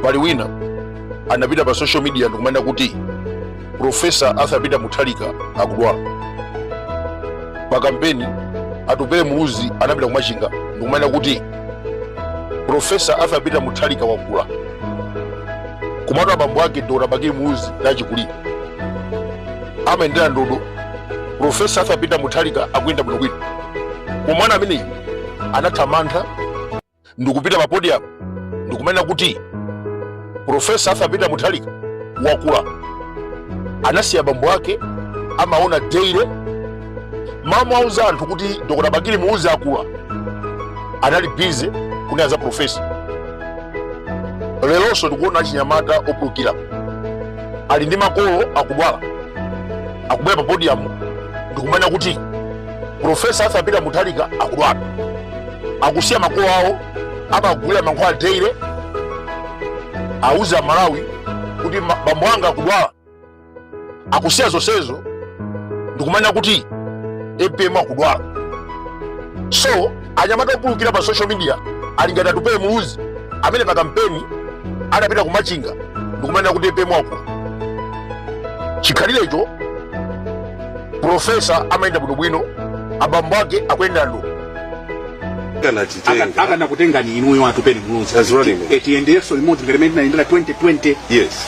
pali wina anapita pa social media ndikumanena kuti profesa arthur peter mutharika akudwala pa kampeni atupele muluzi anapita kumachinga ndikumanena kuti profesa arthur peter mutharika wakula kumatu abambo ake dr bakili muluzi ndachikulire amayendera ndodo profesa arthur peter mutharika akuyenda bwinobwino koma mwana ameneyu anathamanga ndikupita pa podium ndikumanena kuti profesa arthur peter mutharika wakula anasiya bambo ake amaona daily mmawa auze anthu kuti dr bakili muluzi akula anali busy kunena za profesa lelonso ndikuona achinyamata opulukira ali ndi makolo akudwala akubwera pa podium ndikumanena kuti Profesa Arthur Peter Mutharika akudwala, akusiya makolo awo, amagulira mankhwala daily, auze aMalawi kuti ma- bambo anga akudwala, akusiya zonsezo ndikumanena kuti APM akudwala so anyamata opulukira pa social media ali ngati atupele muluzi amene pa kampeni anapita kumachinga ndikumanena kuti apm wakula chikhalirecho profesa amayenda bwinobwino abambo ake akuyendera ndodo akanakutenga akanakutengani inuyo atupele That's right. muluzi a tiyendenso limodzi ngati mene tinayendera 2020 yes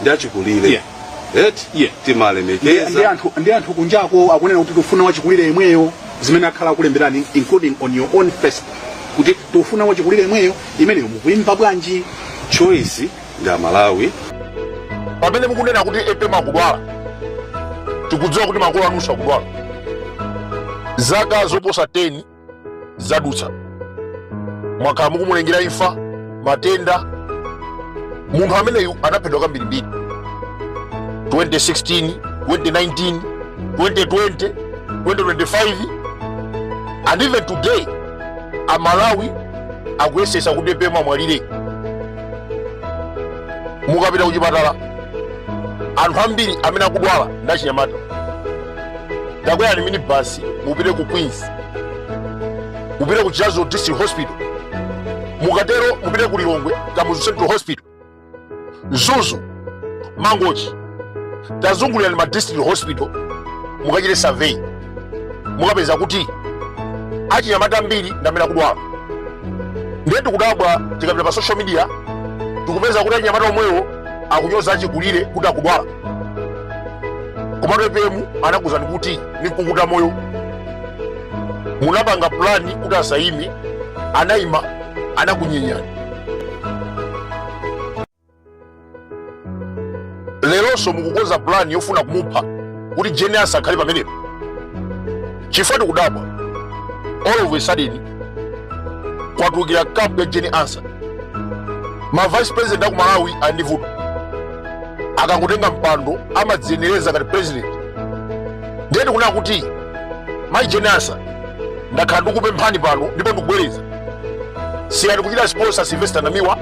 ndi achikulire Yeah. eti Yeah. ndi timalemekeza anthu ndi anthu kunjako akunena kuti tufuna wachikulire yemweyo zimene akhala akulemberani including on your own facebook kuti tufuna wachikulire yemweyo imeneyo mukuimva bwanji choice ndi amalawi pamene mukunena kuti apm akudwala tikudziwa kuti makolo anu akudwala zaka zoposa 10 zadutsa mwakhala mukumulengera imfa matenda munthu ameneyu anaphedwa kambirimbiri 2016 2019 2020 2025 and even today amalawi akuyesetsa kuti apm amwalire mukapita kuchipatala anthu ambiri amene akudwala ndi achinyamata takwerani minibasi mupite ku queens mupite ku chiradzulu district hospital mukatero mupite ku lilongwe kamuzu central hospital mzuzu mangochi tazungulirani ma district hospital mukachite survey mukapeza kuti achinyamata ambiri ndamene akudwala ndiye tikudabwa tikapita pa social media tikupeza kuti achinyamata omwewo akunyoza achikulire kuti akudwala komatu apm anakuzani kuti ndikukuta moyo munapanga pulani kuti asayime anayima anakunyenyani leronso mukukonza pulani yofuna kumupha kuti Jane Ansah akhale pamenepo chifukwa tikudabwa all of a sudden kwatulukira kampu ya Jane Ansah ma vice president a ku malawi andivuta akangotenga mpando amadziyenereza ngati president ndiye tikunena kuti mayi Jane Ansah ndakhala ndikupemphani pano ndipo ndikubwereza siyani kuchita sponsor sylvester namiwa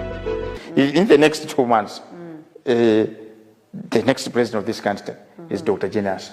In in the next two months, uh, the next president of this country is Dr. Jane Ansah.